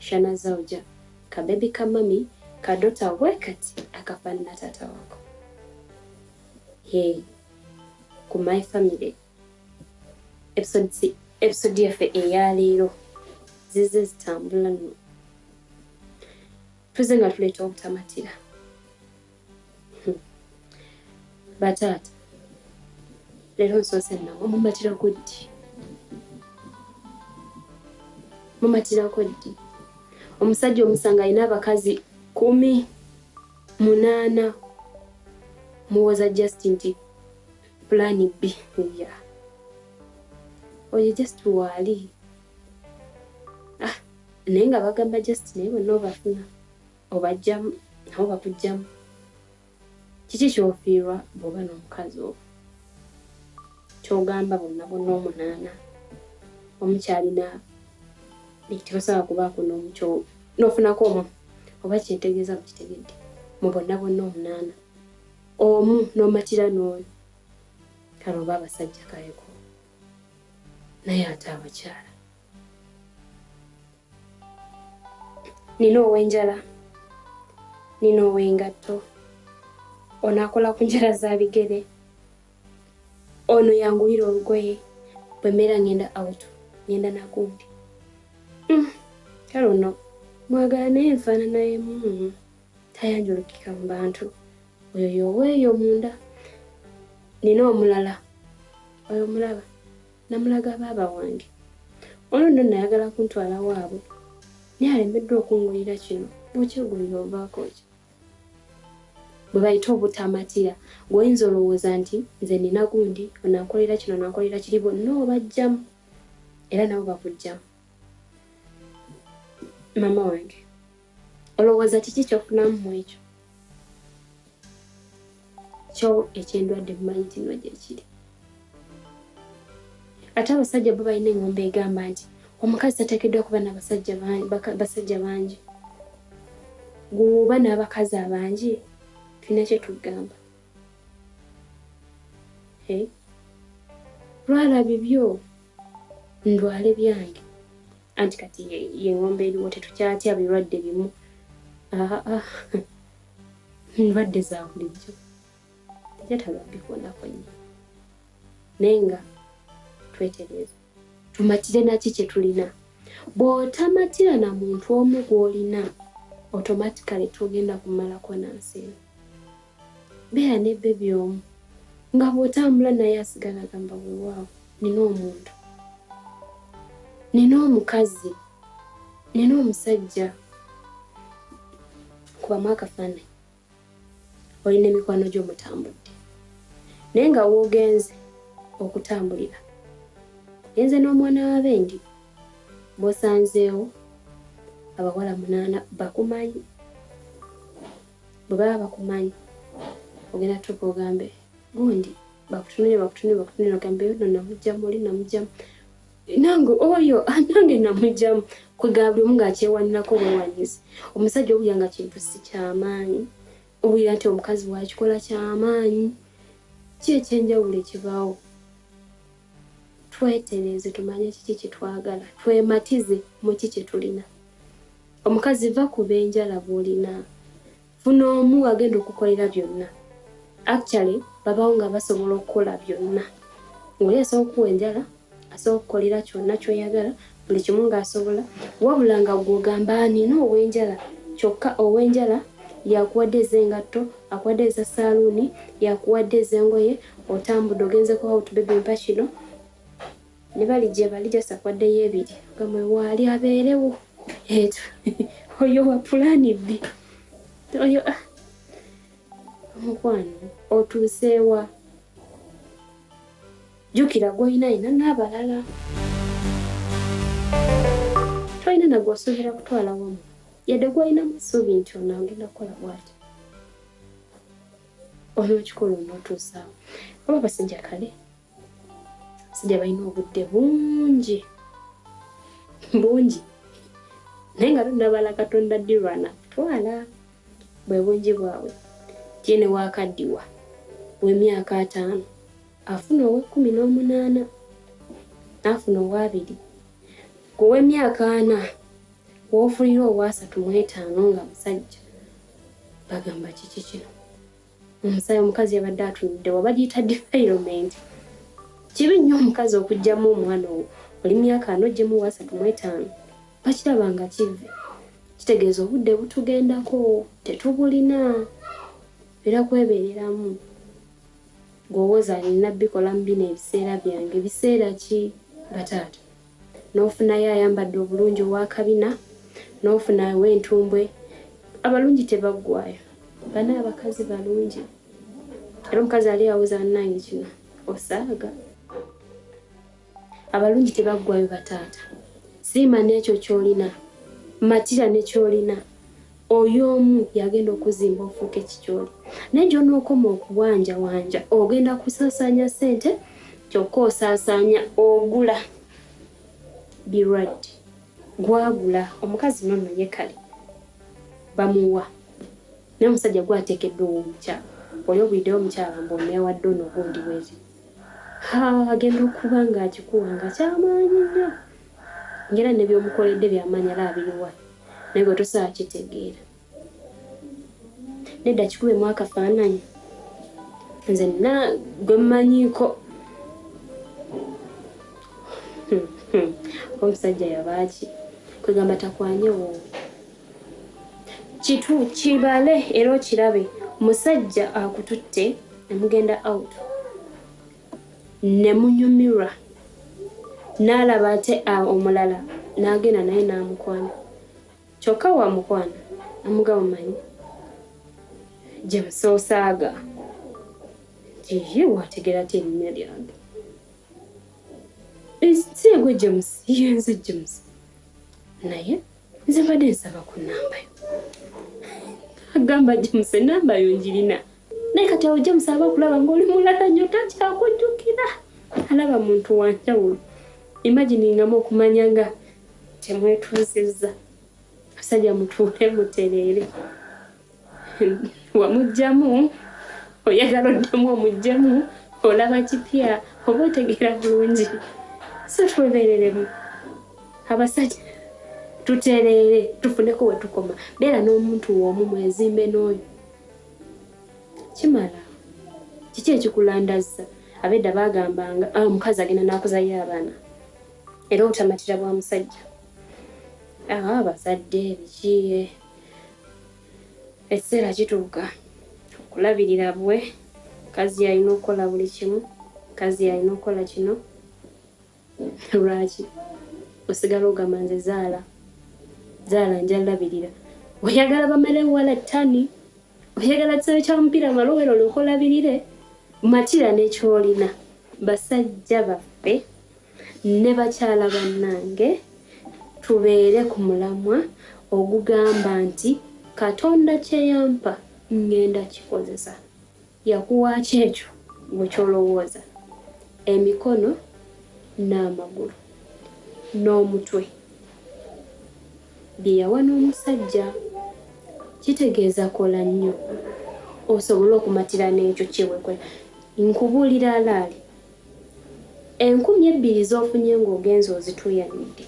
Shana Zauja, ka baby ka mami kadota wekati akafanana tata wako. Hey, ku my family episode si episode yaffe eya leero zize zitambula nno tuze nga tuleeta obutamatira bataata leero nsoose nawe mumatirako ddi mumatirako ddi omusajja omusanga alina abakazi kumi munaana muwoza just nti pulaani bbi ya oyo just waali ah, naye nga bagamba just naye bonna obafuna obajjamu nabo bakujjamu kiki kyofiirwa bwoba n'omukazi owo kyogamba bonna bonna omunaana omukyalina tebasobola kubaako nomukyo nofunako omu oba kyetegeeza mukitegedde mu bonna bonna omunaana omu nomatira n'oyo kale oba abasajja kaleko naye ate abakyala nina ow'enjala nina ow'engatto ono akola ku njala za bigere ono yangulira olugoye bwe mbeera ngenda out ngenda nagundi mm, kale ono mwagala naye nfaanana emu tayanjulukika mu bantu oyo yoweeyo munda nina omulala oyo mulaba Namulaga baaba wange. Ono nno nayagala kuntwala waabwe naye alemeddwa okungulira kino bwokyegulira ovaako ki bwe bayita obutamatira gwoyinza olowooza nti nze nina gundi onankolera kino onankolera kiri bonna obajjamu era nabo bakujjamu mama wange olowooza kiki kyofunamu mu ekyo kyo ekyendwadde mumanyi tino gyekiri ate abasajja bo balina engombe egamba nti omukazi tateekeddwa kuba nabasajja bangi gwoba n'abakazi abangi tulina kyetugamba lwala bibyo ndwale byange anti kati yengombe eriwo tetukyatya birwadde bimu ndwadde za bulijjo tejataba bikonako nnyo naye nga twetereeza tumatire naki kyetulina bw'otamatira na muntu omu gw'olina automatically togenda kumalako na nsi eno beera ne bebi omu nga bw'otambula naye asigala agamba wewaawo nina omuntu nina omukazi nina omusajja kubamu akafaananyi olina emikwano gyo mutambudde naye nga woogenze okutambulira enze n'omwana w'abendi bosanzeewo abawala munaana bakumanyi bwe baba bakumanyi ogenda tuuka ogambe gundi bakutunire bakutunire bakutunire ogambe no namugjamu oli namugjamu nange oyo ah, nange namugjamu kwegaba buli omu ngaakyewanirako bwewanyizi omusajja owulira nga kintu si kyamaanyi owulira nti omukazi wakikola kyamaanyi ki ekyenjawulo ekibaawo twetereeze tumanye kiki kitwagala twematize muki kyetulina omukazi va ku benjala bwolina funa omu agenda okukolera byonna actually babawo nga basobola okukola byonna oli asobola okuwa enjala asobola okukolera kyonna kyoyagala buli kimu ng'asobola wabula nga gw'ogamba nina ow'enjala kyokka ow'enjala yakuwadde ez'engatto akuwadde eza saaluuni yakuwadde ez'engoye otambudde ogenze ku out baby mpa kino ne bali gye bali jasa akuwaddeyo ebiri gamwe waali abeerewo etu oyo wa pulaani bbi oyo ah, omukwano otuuseewa jukira gwolina alina n'abalala tolina nagwosuubira kutwala wamu yadde gwolinamu essuubi nti ono agenda kukola bwati olina okikola onootuusaawo oba basajja kale basajja balina obudde bungi bungi naye nga tunabala katonda dirwana twala bwe bungi bwabwe tiene wakaddiwa w'emyaka ataano afuna ow'ekkumi n'omunaana n'afuna ow'abiri ku w'emyaka ana w'ofunira ow'asatu mu etaano nga musajja bagamba kiki kino omusaayi omukazi yabadde atunudde wa bagiyita defilement kibi nnyo omukazi okugyamu omwana owo oli myaka ano ogyemu wasatu mu etaano bakiraba nga kivve kitegeeza obudde butugendako tetubulina era kwebeereramu Gwowoza nina bikolamu bino ebiseera byange biseera ki bataata nofunayo ayambadde obulungi owakabina nofuna wentumbwe abalungi tebaggwayo bana abakazi balungi era omukazi ali awoza nange kino osaaga abalungi tebaggwayo bataata siima n'ekyo ky'olina matira ne ky'olina oyo omu yagenda okuzimba ofuuka ekikyoli naye gyonookoma okuwanjawanja ogenda kusaasaanya ssente kyokka osaasaanya ogula birwadde gwagula omukazi nono ye kale bamuwa naye omusajja gwateekeddwa owomukyala oli obuliddewo omukyala mbu oneewadde ono gundi bwezi agenda okuba ng'akikuwa nga kyamaanyi nnyo ngaera ne byomukoledde byamaanyi alaba biriwa naye gwe tosaa kitegeera nedda kikubemu akafaananyi nze na gwe mmanyiiko hmm, hmm. omusajja yabaaki kwegamba takwanyewo kitu kibale era okirabe musajja akututte nemugenda out nemunyumirwa naalaba ate omulala naagenda naye naamukwana kyokka wamukwana amuga mumanyi gyemusoosaaga ye wategera ti erinnya lyange ensi egwe james yenze james naye nze mbadde nsaba ku namba yo agamba james enamba yo njirina naye kati awo james aba okulaba ngaoli mulala nyo takyakujjukira alaba muntu wanjawulo imaginingamu okumanya nga temwetuuzizza abasajja mutuule mutereere wamugyamu oyagala oddamu omugyamu olaba kipya oba otegeera bulungi so twebereremu abasajja tutereere tufuneko wetukoma beera n'omuntu womu mwezimbe n'oyo kimala kiki ekikulandazza abedda bagambanga ah, omukazi agenda nakuzayo abaana era obutamatira bwa musajja ah, abazadde bikiye ekiseera kituuka okulabirira bwe kazi yalina okukola buli kimu kazi yalina okukola kino lwaki osigala ogamba nze zaala zaala njalabirira oyagala bamere wala tani oyagala kisawe kya mupiira malowero olwokolabirire matira nekyolina basajja baffe ne bakyala bannange tubeere ku mulamwa ogugamba nti katonda kye yampa ŋŋenda kikozesa yakuwaaki ekyo gwe kyolowooza emikono n'amagulu n'omutwe bye yawa n'omusajja kitegeeza kola nnyo osobole okumatira n'ekyo kyewekola nkubuulira alaali Enkumi ebbiri z'ofunye ng'ogenze ozituuyanidde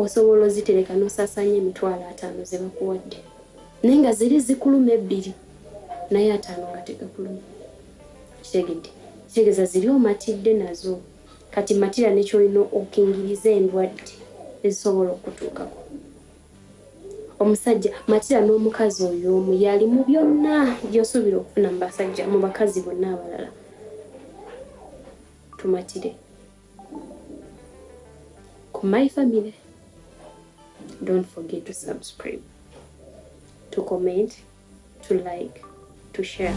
osobola ozitereka n'osaasaanya emitwalo ataano ze bakuwadde naye nga ziri zikuluma ebbiri naye ataano nga tegakuluma kitegedde kitegeeza ziri omatidde nazo kati matira nekyolina okingiriza endwadde ezisobola okutuukako omusajja matira n'omukazi oyo omu yali mu byonna byosuubira okufuna mu basajja mu bakazi bonna abalala tumatire ku my family don't forget to subscribe to comment to like to share